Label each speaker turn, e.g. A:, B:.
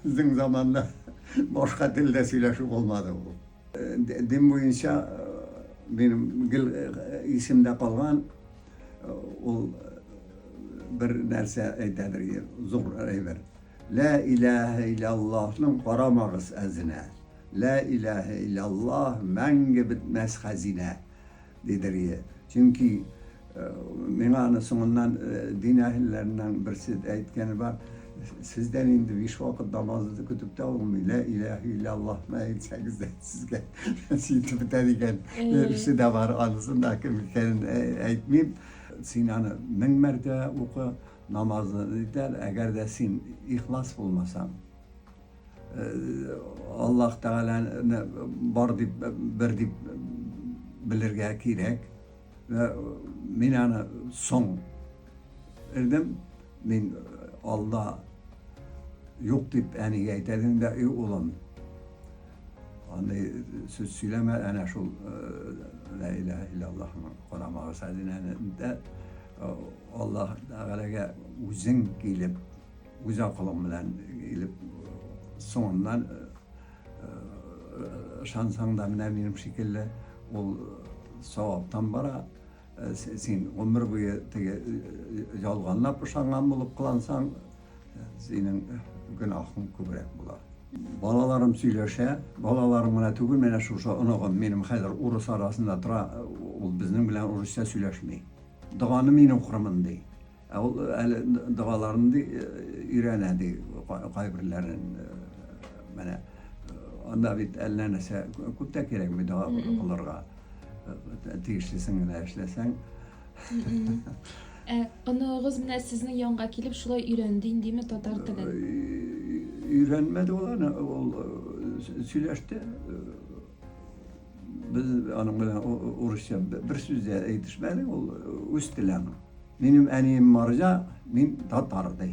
A: Безнең заманда башка телдә сөйләшү булмады ул. Дин буенча минем гел исемдә калган ул бер нәрсә әйтәдер иде, зур әйбер. Лә иләһә иләллаһның карамагыз әзенә, Лә иләһә иләллаһ мәңге бетмәс хәзинә, диде Ри. Чөнки миңа аны соңыннан дин әһелләреннән берсе әйткәне бар, Сездән инде биш вакыт намазны көтеп тә булмый, Лә иләһә иләллаһны әйтсәгез дә сезгә нәси итеп бетә, дигән берсе дә бар. Анысын да кем икәнен әйтмим. Син аны мең мәртәбә укы. Намазны үтәр, әгәр дә син ихлас булмасаң. Э, Аллаһ Тәгаләне бар дип, бер дип белергә кирәк. Э, мин аны соң ирдем, мин алда юк дип әнигә әйтәдем дә, и улым, аны сүз сөйләмә, әнә шул э, лә илаһ иллаллаһның карамагы сәдинәне дә Аллаһ Тәгаләгә үзең килеп, үз акылың белән килеп, соңыннан ышансаң да менә минем шикелле ул саваптан бара. Син гомер буе теге ялганлап ышанган булып кылансаң, синең гөнаһың күбрәк була. Балаларым сөйләшә, балаларым гына түгел, менә шушы оныгым минем хәзер урыс арасында тора, ул безнең белән урысча сөйләшми. Доганы мин укырмын, ди. Ә ул әле догаларын ди өйрәнә ди кайберләрен. Менә анда бит әллә нәрсә күп тә кирәкми дога укылырга. Тиешлесен генә эшләсәң. Ә
B: оныгыгыз менә сезнең янга килеп шулай өйрәнде индеме татар телен? Өйрәнмәде ул
A: аны, ул сөйләште. Без аның белән урысча бер сүз дә әйтешмәдек, ул үз теле аның. Минем әнием марҗа, мин татар ди.